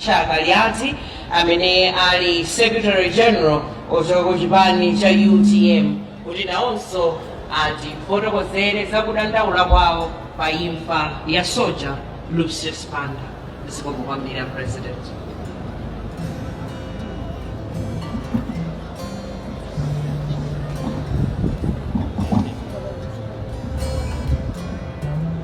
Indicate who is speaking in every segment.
Speaker 1: Richard Kaliati amene ali Secretary General ochokera ku chipani cha utm kuti nawonso atifotokozere za kudandaula kwawo pa imfa ya soja Lucius Banda. Zikomo kwambiri a President.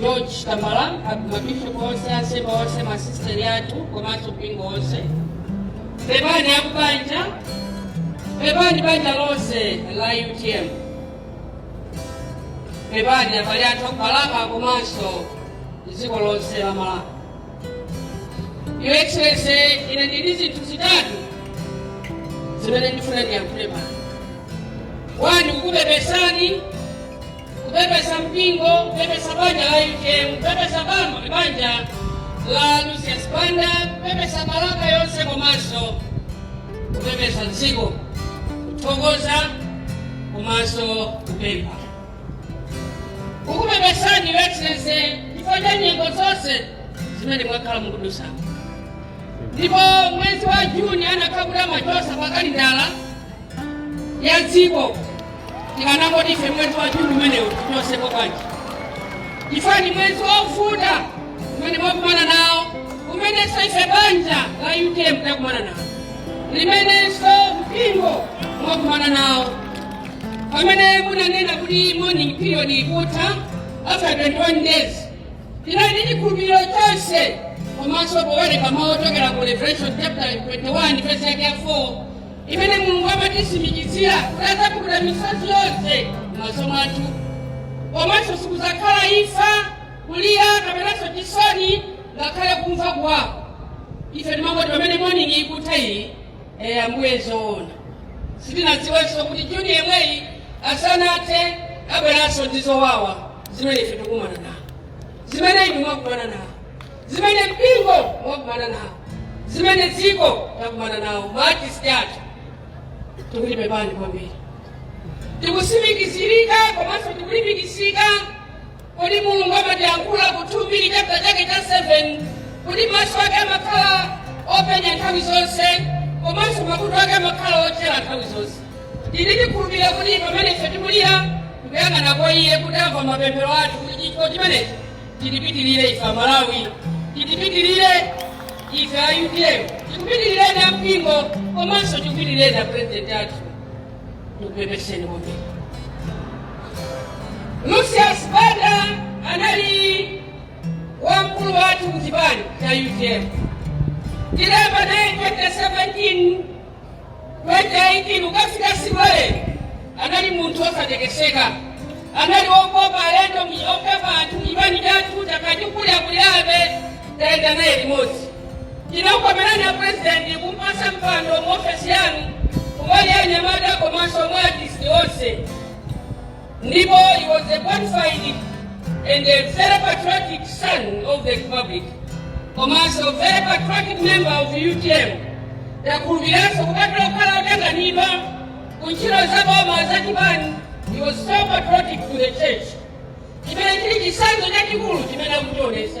Speaker 2: george tambala mabishop onse ansembe onse masisteri athu komanso mpingo wonse pepani akubanja pepani banja lonse la utm pepani abale athu akubalaka komanso dziko lonse la malawi your excellency ine ndili zinthu zitatu zimene ndifuna ndiyankhule pano wani kukupepesani kupepesa mpingo kupepesa banja la utm kupepesa bama banja la lucius banda kupepesa balaka yonse komanso kupepesa dziko kuthokoza komanso kupempha kukupepesani your excellency chifukwa cha nyengo zonse zimene mwakhala mukudutsa ndipo mwezi wa juni anakati kumachotsa pa kalendala ya dziko tikanangoti ife mwezi wa juni umenewu tichotseko bwanji chifukwa ni mwezi wovuta umene mwakumana nawo umenenso ife banja la utm takumana nawo limenenso mpingo mwakumana nawo pamene munanena kuti mourning period ikutha after 21 days tinali ndi chikhulupiriro chonse komanso powerenga mawu ochokera ku revelation chapter 21 verse yake ya 4 imene mulungu amatitsimikizira kuti adzapukuta misozi yonse m'maso mwathu komanso sikudzakhala imfa kulira kapenanso chisoni ngakhale kumva kuwawa ife timangoti pamene mourning ikutha iyi eh, ambuye zoona sitinadziwenso kuti juni yemweyi asanathe abweranso ndi zowawa zimene ife tikumana nawo zimene inu mwakumana nawo zimene mpingo wakumana nawo zimene dziko lakumana nawo maartist athu tikuti pepani kwambiri tikutsimikizirika komanso tikulimbikitsika kuti mulungu amatiyankhula ku 2 mbiri chapter chake cha 7 kuti maso ake amakhala openya nthawi zonse komanso makutu ake amakhala otchera nthawi zonse tili tikukhulupirira kuti pamene ife tikulira tikuyang'ana kwa iye kuti amva mapemphero athu kuti chifukwa chimenecho chitipitirire ife amalawi chitipitirire ife a utm chikupitirireni a mpingo komanso chikupitirireni a purezidenti athu tikupepeseni kuti lucius banda anali wamkulu wathu kuchipani cha utm tidayamba naye 2017 2018 ukafika Sibale anali munthu osatekeseka, anali wokopa alendo, okopa anthu chipani chathu takhala tikulirakulirabe tayenda naye limodzi chinakukomerani a president kumpasa mpando mu ofesi yanu kumbali ya anyamata komanso ma artist onse ndipo he was a bona fide and a very patriotic son of the republic komanso very patriotic member of utm takhulupiriranso kupatula kukhala otanganidwa ku ntchito za boma za chipani he was so patriotic to the church chimene chili chitsanzo chachikulu chimene amachionesa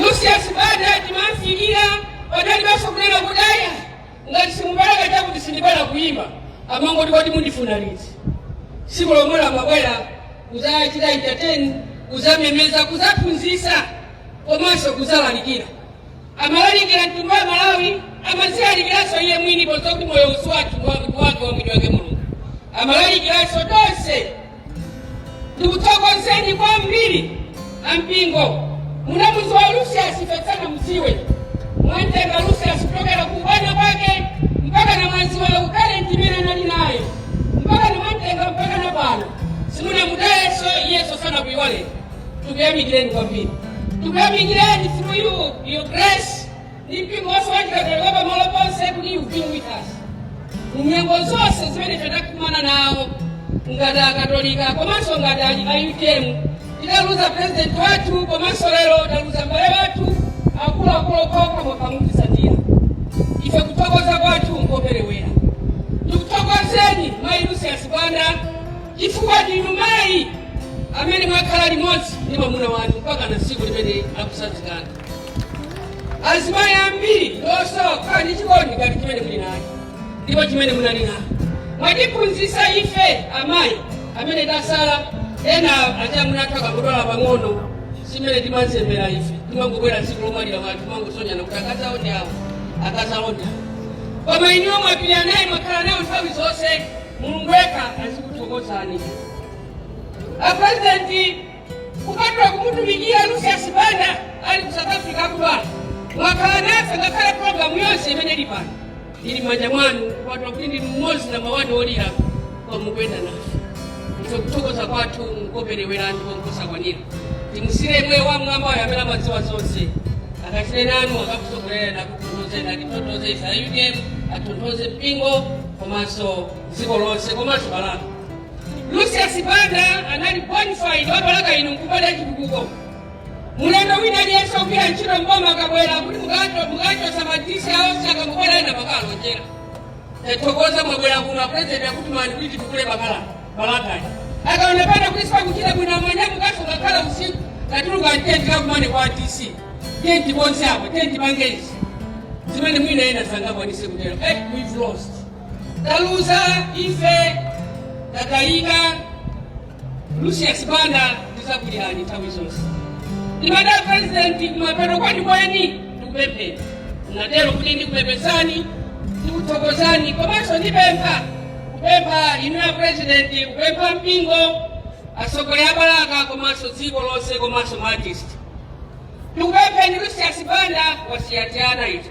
Speaker 2: lucius banda timamfikira padalibenso kunena kuti ayi ngati simupereka chakuti sindibwera kuyimba amangoti kodi mundifuna liti siku lomwelo amabwera kuzachita entertain kuzamemeza kuzaphunzisa komanso kuzalalikira amalalikira mtundu wa malawi amazilalikiranso iye mwini poziwa kuti moyowu si wathu wake wa mwini wake mulungu amalalikira ndikuthokozeni kwambiri ampingo munamuziwa lucius ife tisanamudziwe mwantenga lucius kuchokera ku ubwana kwake mpaka na mwaziwa talenti imene anali nayo mpaka na mwantenga mpaka na pano simunamutayeso iyeso sanakuiwale tikuyamikireni kwambiri tikuyamikireni through you your grace mpingo wonse wachikatolika pamalo ponse kuti you've been with us munyengo zonse zimene tidakumana nawo ngati akatolika komanso ngati ali a utm tidaluza president wathu komanso lero taluza mbale wathu akuluakulu okhaokha mokamutizatira ife kuthokoza kwathu nkoperewera tikuthokozeni mayi lucius banda chifukwa ndinu mayi amene mwakhala limodzi ndi mwamuna wanu mpaka na tsiku limene akusazikana azimayi ambiri ndiosowa kukhala ndi chikondi ngati chimene muli nacho ndipo chimene munali nacho mwatiphunzitsa ife amayi amene tasala ena achamuna athu akangodwala pang'ono si mmene timazembera ife timangobwera tsiku lomwalira anthu kumangosonyana kuti akazawo ndi awo akazawo ndi awo koma inuyo mwapirira naye mwakhala naye nthawi zonse mulungu yekha azikuthokozani a president kupatula kumutumikira lucius banda ali ku south africa akudwala mwakhala nafe ngakhale programu yonse imene ili pano ili m'manja mwanu kupatula kuti ndinu mmodzi namba wani olira koma mukuyenda nafe ife kuthokoza kwathu nkoperewera ndipo nkosakwanira timusiire mwini wa mwambayo amene amadziwa zonse akachite nanu akakutsogolereni akutonthozeni atitonthoze ife a utm atonthoze mpingo komanso dziko lonse komanso balaka lucius banda anali bonafide wa balaka ino nkumbali ya chitukuko mulendo wina aliyense ogwira ntchito mboma akabwera kuti mukachotsa ma dc onse akangobwera ena amakalonjera tathokoza mwabwera kuno apurezidenti akutumani kuti titukule balaka balakayi akaonekana kuti sipakuchita bwino amanyamukanso ngakhala usiku tatuluka tiyeni tikakumane kwa dc tiyeni tikonze apo tiyeni tipange izi zimene mwina ena sangakwanise kutero eh, we've lost Taluza ife tatayika Lucius Banda tidzakulirani nthawi zonse ndimati a president kumapeto kwenikweni ndikupempheni natero kuti ndikupepesani ndikuthokozani komanso ndipempha kupempha inuyo a president kupempha mpingo atsogoleri a balaka komanso dziko lonse komanso maartist ndikupempheni Lucius Banda wasiya tiana tija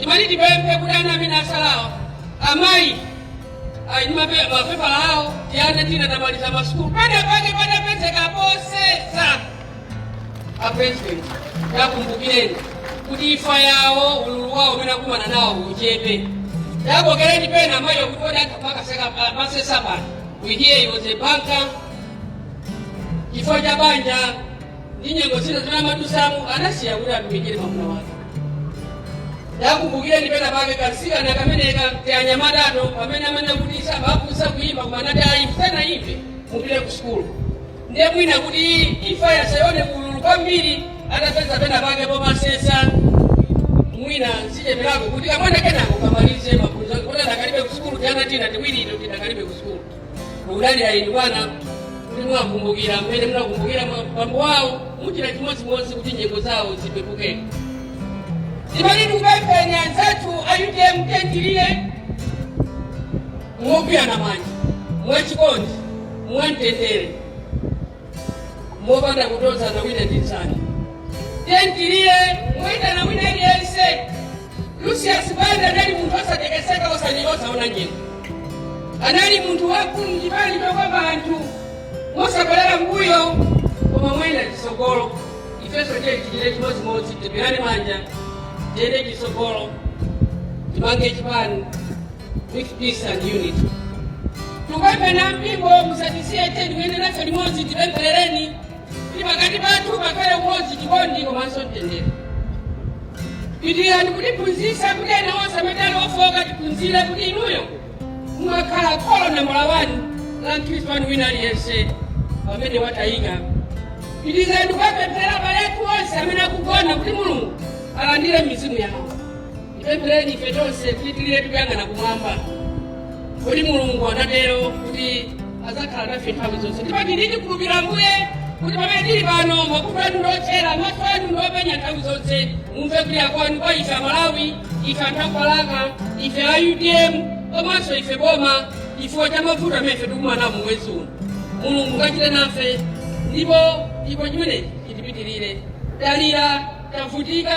Speaker 2: Timati tipemphe kuti ana amene atsalawa amayi ali ndi mape- mapepala awo tiana tina tamaliza masukulu penapake patapezeka posesa a president takumbukireni kuti imfa yawo ululu wawo umene akumana nawo uchepe takokereni pena amayiwo kuti atamasesa pano we hear he was a banker chifukwa cha banja ndi nyengo zina zimene amadutsamo anasiya kuti atumikire mwamuna wake takumbukireni pena pake katsikana kameneka tianyamatato pamene amene kuti sabakusa kuimba koma anati ayi msana imve mupite ku sukulu ndiye mwina kuti imfayi isaoneke ululu kwambiri atapeza pena pake pomasesa mwina zicheperako kuti kamwana kenako kamalize maphunziro kuti adakalibe ku sukulu tiana tina tiwiri ito tidakalibe ku sukulu tikudalira inu bwana kuti muwakumbukira mmene munakumbukira bambo wawo muchita chimodzimodzi kuti nyengo zawo zipepuke ndimati ndikupempheni anzathu a utm tiyeni tilire mogwirana manja mwachikondi mwamtendere mopanda kutonzana wina ndi mnzake. Tiyeni tilire moitana wina aliyense. Lucius Banda anali munthu osatekeseka, osanyenga, osaona nyengo. Anali munthu wamkulu m'chipani chokopa anthu mosabwerera m'mbuyo koma moyenda chitsogolo. Ifenso tiyeni tichite chimodzimodzi, tigwirane manja, tiyende chitsogolo, timange chipani. with peace and unity. Tikupemphena ampingo musatisiye tiyeni yendani nafe limodzi tipempherereni kuti pakati pathu pakhale umodzi chikondi komanso mtendere pitirizani kutiphunzitsa kuti ena onse amene ali ofooka tiphunzire kuti inuyo mumakhala kholo nambala wani la mkhristu wanu wina aliyense pamene watayika pitirizani kuwapempherera abale athu onse amene akugona kuti mulungu alandire mizimu yawo Tipemphereni ife tonse kuti tilire tikuyang'ana kumwamba, poti Mulungu anatero kuti adzakhala nafe nthawi zonse. Ndipo ine ndikhulupirira Ambuye kuti pamene tili pano makutu anu ndi otchera, maso anu ndi openya nthawi zonse, mumve kulira kwanu kwa ife Amalawi, ife anthu akwalaka, ife a UDM komanso ife boma chifukwa cha mavuto amene ife tikumana mu mwezi uno. Mulungu kachite nafe ndipo chimenechi chitipitirire. Talira, tavutika,